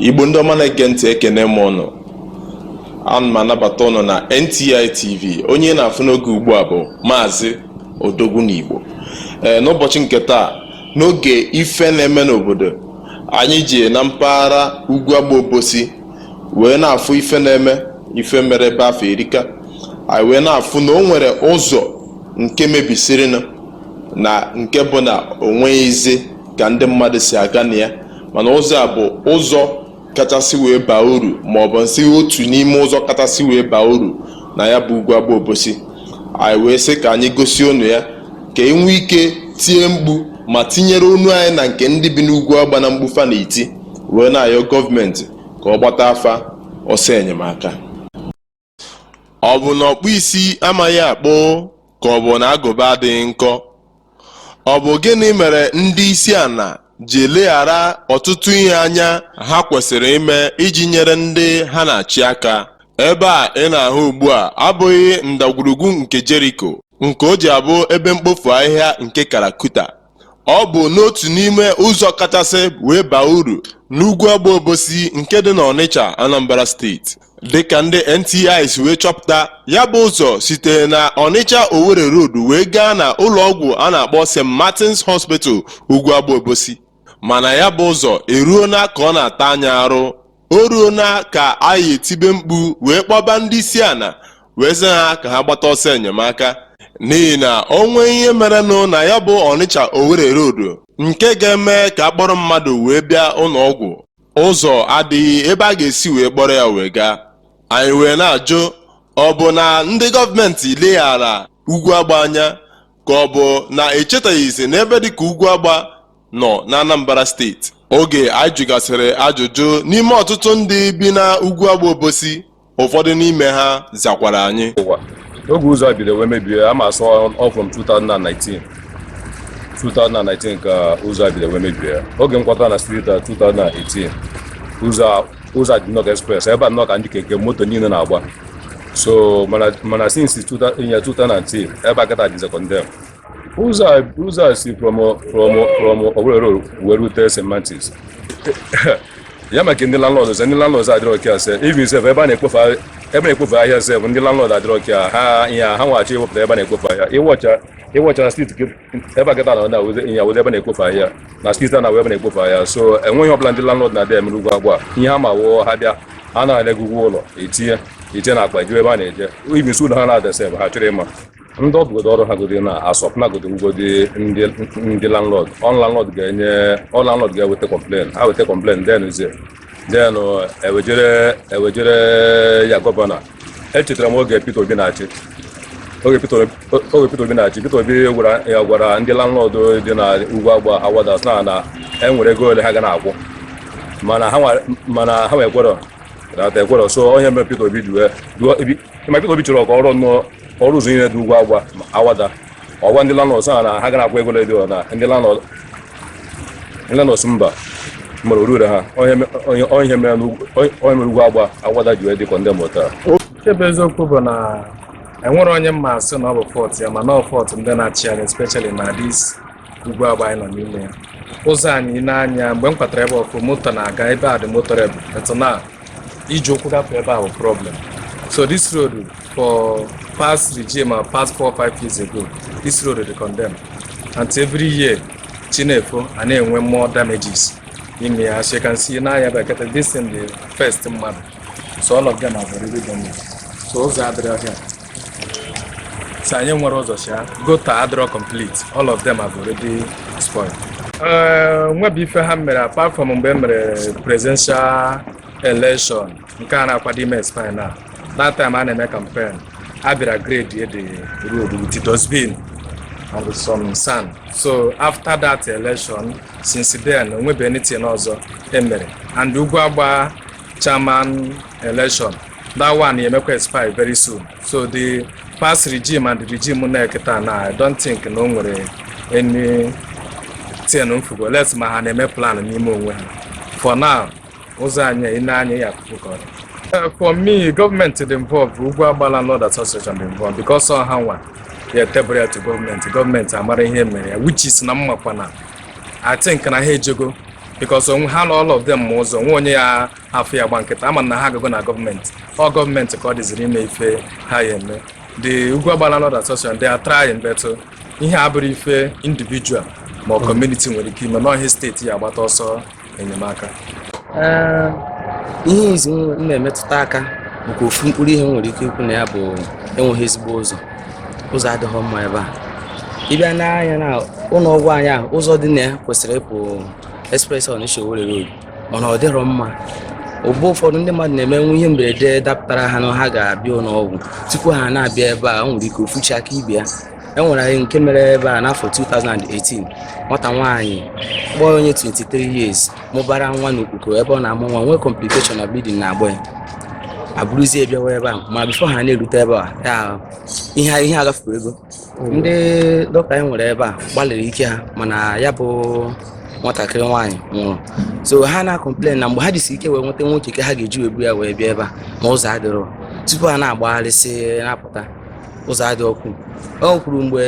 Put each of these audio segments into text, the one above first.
igbo ndị ọma na-ege ntị ekene m ụnụ ana m anabata ụnụ na NTI TV onye na-afụ n'oge ugbu a bụ maazị odogwu n'igbo ee n'ụbọchị nke taa n'oge ife na-eme n'obodo anyị ji na mpaghara ugwu agba obosi wee na-afụ ife na-eme ife mere ebe afụ erika anyị wee na-afụ na o nwere ụzọ nke mebisirinụ na nke bụ na o nweghịzi ka ndị mmadụ si aga na ya mana ụzọ a bụ ụzọ kachasị wee baa uru ma ọ bụ m sị otu n'ime ụzọ kachasị wee baa uru na ya bụ ugwu agba obosi anyị wee sị ka anyị gosi unu ya ka e nwee ike tie mkpu ma tinyere ọnụ anyị na nke ndị bi n'ugwu agba na mkpu fa na-eti wee na-ayọ gọọmenti ka ọ gbata fa ọsọ enyemaka ọ bụ na ọkpụ isi amaghị akpụ ka ọ bụ na agụba adịghị nkọ ọ bụ gịnị mere ndị isi ala ji eleghara ọtụtụ ihe anya ha kwesịrị ime iji nyere ndị ha na-achị aka ebe a ị na-ahụ ugbu a abụghị ndagwurugwu nke Jeriko nke o ji abụ ebe mkpofu ahịhịa nke Karakuta Ọ bụ n'otu n'ime ụzọ kachasị wee baa uru n'ugwu agba Obosi nke dị n'Ọnịcha, Anambra steeti. Dịka ndị NTI si wee chọpụta, ya bụ ụzọ sitere na Ọnịcha Owerri Road wee gaa na ụlọọgwụ a na-akpọ St. Martin's Hospital Ugwu Agba Obosi. Mana ya bụ ụzọ eruona ka ọ na-ata anya arụ O ruona ka anyị etibe mkpu wee kpọba ndị isi ala wee sị ha ka ha gbata ọsọ enyemaka n'ihi na o nwee ihe merenụ na ya bụ Ọnịcha Owerri Road nke ga-eme ka a kpọrọ mmadụ wee bịa ụlọ ọgwụ ụzọ adịghị ebe a ga-esi wee kpọrọ ya wee gaa anyị wee na-ajụ ọ bụ na ndị gọọmenti leghara ugwu agba anya ka ọ bụ na e chetaghịzi na ebe dịka ugwu agba nọ n'Anambra steeti oge anyị jụgasịrị ajụjụ n'ime ọtụtụ ndị bi na ugwu agba obosi ụfọdụ n'ime ha zakwara anyị oge ụzọ a bido wee mebie as from 2019 2019 ka ụzọ a bido wee mebie oge m kwata na street 2018 ụzọ ụzọ dị nnọọ express ebe a nnọọ ka ndị keke moto niile na-agba so mana since 2019 ebe a kata dịzekọ ndị ụzọ a ụzọ a si from from from Owerri Road wee rute St. Martins ya maka ndị landlord sị ndị landlord adịrọ a-care sef even sef ebe a na-ekpofe ahịa- ebe a na-ekpofe ahịa sef ndị landlord adịrọ a-care ha ihe a, ha nwa chọọ iwepụta ebe a na-ekpofe ahịa ịwọcha ịwọcha na street gị- ebe a kịta na na wụzi ihe wụzi ebe a na-ekpofe ahịa na steeti a na wụ ebe a na-ekpofe ahịa so enweghị ọbụla ndị landlord na-adị emere Ugwuagba ihe ha ma wụ ha bịa ha nara gị ụgwọ ụlọ etinye etinye n'akpa jewe ebe ha na-eje even so ụlọ ha na-ada sef ha achọrọ ịma ndị ọ bụgodu ọrụ ha godi na asọp na godi ngodi ndị ndị landlord ọ landlord ga-enye ọ landlord ga-eweta complain ha weta complain then ze then ewejere ewejere ya gọvanọ echetara m oge Peter Obi na-achị oge Peter Obi- oge Peter Obi na-achị Peter Obi gwara ya gwara ndị landlord dị na Ugwuagba Awada sị na na e nwere ego ole ha ga na-akwụ mana ha nwa- mana ha nwekwara na ekwerọ so ọ nya mere Peter Obi ji wee ji wee ma Peter Obi chọrọ ka ọ rụọ nnọọ ọ rụọ ụzọ niile dị Ugwuagba na Awada ọ gwa ndị landlords a na ha ga na-akwụ ego ole dị na ndị landlords ndị landlords sị mba mere ọ rụrọ ha ọ nya me- ọ nya- ọ nya mere n'Ugwu- ọ nya- ọ nya mere Ugwuagba Awada ji wee dị condemn taa nke bụ eziokwu bụ na enwerọ onye m ma-asị na ọ bụ fault ya mana ọ fault ndị na-achị anyị especially na this Ugwuagba anyị nọ n'ime ya ụzọ anyị n'anya mgbe m kwatara ebe ọkụ moto na-aga ebe a dị motorable etu na iji ụkwụ gafee ebe ahụ problem so this road for past regime and past four five years ago this road dị condemn and every year chi na-efo a na-enwe more damages ime ya as you can see n'anya bekete this thing the first mmadụ so all of them have already damage so ụzọ adịrọ here so anyị enwerọ ụzọ si gutter adịrọ complete all of them have already spoiled eh, o nwebe ife ha mere apart from mgbe e mere presidential election nke a na-akwado ime expire now that time a na-eme campaign a bịara grade the road with dustbin and some sand so after that election since then o nwebe anything ọzọ e mere and Ugwuagba chairman election that one emekwa expire very soon so the past regime and the regime nọ kịta na I don't think na o nwere anything m fụgo unless ma ha na-eme plan n'ime onwe ha for now ụzọ anyị ị nee anya ị ya-afụ ka ọ dị Uh, for me gọọmenti dị involved Ugwuagba Landlord Association dị involved because ọ ha nwa ya-table ya to gọọmenti gọọmenti amara ihe mere ya which is na m makwa na I think na ha ejego because onwe ha na all of them ma ụzọ nwe onye ya afụ ya gba nkịtị ama na ha agago na gọọmenti ọ gọọmenti ka ọ dịziri ime ife ha ya eme the Ugwu Agba Landlord Association they are trying but ihe a abụrọ ife individual ma ọ kọmuniti nwere ike ime n'ọhịa steeti ya agbata ọsọ enyemaka ihe izizi m na-emetụta aka nke ofu mkpụrụ ihe nwere ike ikwu na ya bụ enweghị ezigbo ụzọ ụzọ adịghị mma ebe a ị bịa nee anya na ụlọ ọgwụ anyị ahụ ụzọ dị na ya kwesịrị ịpụ express Onitsha Owerri Road mana ọ dịrọ mma mgbe ụfọdụ ndị mmadụ na-eme nwee ihe mberede dapụtara ha na ha ga-abịa ụlọ ọgwụ tupu ha na-abịa ebe a o nwere ike ofu chi aka ibe ya e nwere anyị nke mere ebe a n'afọ 2018 nwata nwaanyị bụ onye 23 years mụbara nwa n'Okpoko ebe ọ na-amụ nwa nwee complication na bleeding na-agba ya eburuzie bịawa ebe a ma before ha na-erute ebe a ya ihe ihe agafekwurugo ndị dọkịta anyị nwere ebe a gbalịrị ike ha mana ya bụ nwatakịrị nwaanyị nwụrụ so ha na-complain na mgbe ha jisi ike wee nweta nwa keke ha ga-eji wee buru ya wee bịa ebe a ma ụzọ adịrọ tupu ha na-agbagharịsị na-apụta ụzọ adịrọkwu o nwekwuru mgbe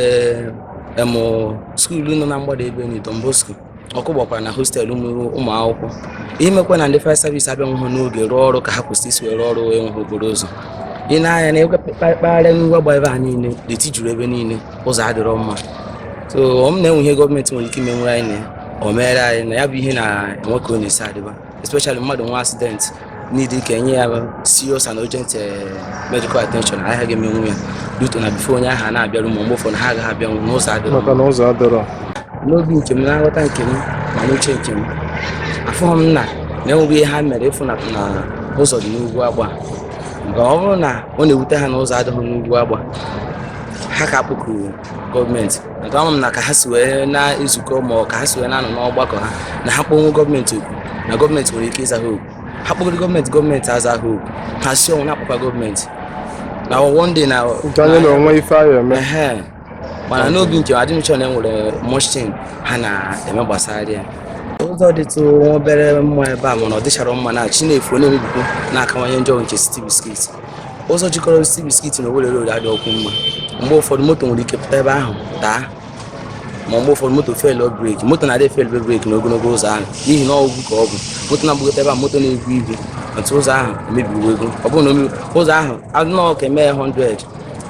em skuulu nọ na mgbada ebe ndị Don Bosco ọkụ gbakwara na hostel ụmụ akwụkwọ ihe mekwa na ndị fire service abịanwụhụ n'oge rụọ ọrụ ka ha kwesịrị isi wee rụọ ọrụ enweghị okporo ụzọ ị nee anya na mpaghara Ugwu Agba ebe a niile deti juru ebe niile ụzọ adịrọ mma so ọ m na-enwe ihe gọọmenti nwere ike imenwere anyị na ya o meere anyị na ya bụ ihe na-enwe ka ọ na-esi adịba especially mmadụ nwee accident need ka enye ya serious and urgent eh, medical attention ha agaghị emenwu ya due to na before onye ahụ a na-abịaru ma mgbe ụfọdụ ha agaghị abịanwu na ụzọ adịrọ maka na ụzọ adịrọ n'obi nke m na nghọta nke m ma n'uche nke m afụghị m na na enweghị ihe ha mere ịfụ na na ụzọ dị n'Ugwu Agba nke ọ bụrụ na ọ na-ewute ha na ụzọ adịghị n'Ugwu Agba ha ka-akpọkuru gọọmenti nke ama m na ka ha si wee na-ezukọ ma ọ ka ha si wee na-anọ n'ọgbakọ ha na ha kpọnwu gọọmenti oku na gọọmenti nwere ike ịza ha oku ha kpọgoro gọọmenti gọọmenti aza ha oku ha sie ọnwụ na-akpọkwa gọọmenti na one day na nke anyị na o nwe ife a ya eme ehe mana n'obi nke m adị m sure na enwere much thing ha na-eme gbasara ya ụzọ dịtụ nwa obere mma ebe a mana ọ dịcharọ mma na chi na-efo na-emebikwu na-akawanye njọ nke City Biscuit ụzọ jikọrọ City Biscuit na Owerri Road adịrọkwu mma mgbe ụfọdụ moto nwere ike pụta ebe ahụ daa ma mgbe ụfọdụ moto fail brake moto na-adị fail brake n'ogologo ụzọ ahụ n'ihi na ugwu ka ọ bụ moto na-agbagote ebe a moto na-ebu ibu otu ụzọ ahụ emebiwogo ọ bụrụ na ụzọ ahụ anụọ ka emee 100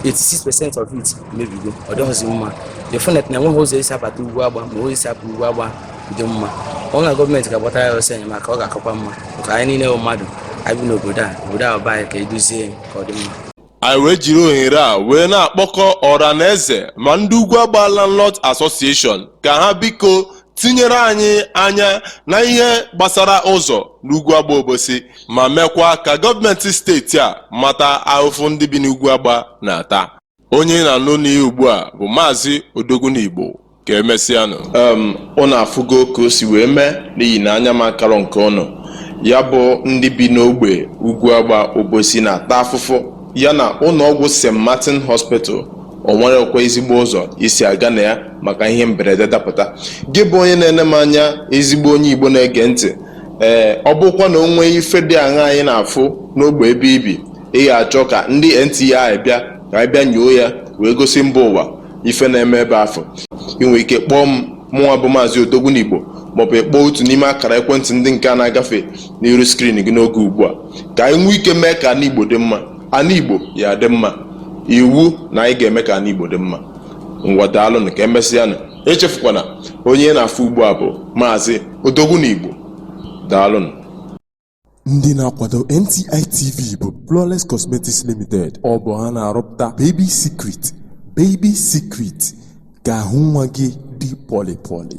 86 percent of it emebigo ọ dịghịzi mma definitely na enweghị ụzọ esi abata Ugwu Agba ma ụzọ esi apụ Ugwu Agba dị mma ọ na gọọmenti ga-agbata ya ọsọ enyemaka ọ ga-akakwa mma maka anyị niile bụ mmadụ anyị bi n'obodo a obodo a ọ bụ anyị ga-edozi ya ka ọ dị mma anyị wee jiri ohere a wee na-akpọkọ ọra na eze ma ndị ugwu agba landlord association ka ha biko tinyere anyị anya na ihe gbasara ụzọ n'ugwu agba obosi ma meekwa ka gọọmenti steeti a mata ahụfụ ndị bi n'ugwu agba na-ata Onye ị na-anụ n'ihe ugbu a bụ Maazị Odogwu n'Igbo ka emesịanụ. um ụnụ afụgo ka o si wee mee n'ihi na anya m akarọ nke ụnụ ya bụ ndị bi n'ogbe ugwu agba obosi na-ata afụfụ ya na ụlọọgwụ st martin hospital o nwerekwa ezigbo ụzọ e si aga na ya maka ihe mberede dapụta gị bụ onye na-ene m anya ezigbo onye igbo na-ege ntị ee ọ bụkwa na o nwee ife dị aṅa anyị na-afụ n'ogbe ebe i bi ị ga-achọ ka ndị NTI bịa ka anyị bịa nyoo ya wee gosi mba ụwa ife na-eme ebe afụ ị nwere ike kpọọ m mụnwa bụ maazị Odogwu n'Igbo maọbụ ị kpọọ otu n'ime akara ekwentị ndị nke a na-agafe n'iru skrin gị n'oge ugbu a ka anyị nwee ike mee ka ana Igbo dị mma ana Igbo ya-adị mma iwu na anyị ga-eme ka ana Igbo dị mma ngwa daalụnụ ka emesịanụ echefukwana onye ị na-afụ ugbu a bụ maazị Odogwu n'Igbo daalụnụ Ndị na-akwado NTI TV bụ Flawless Cosmetics Limited. Ọ bụ ha na-arụpụta Baby Secret, Baby Secret ka ahụ nwa gị dị pọlị pọlị.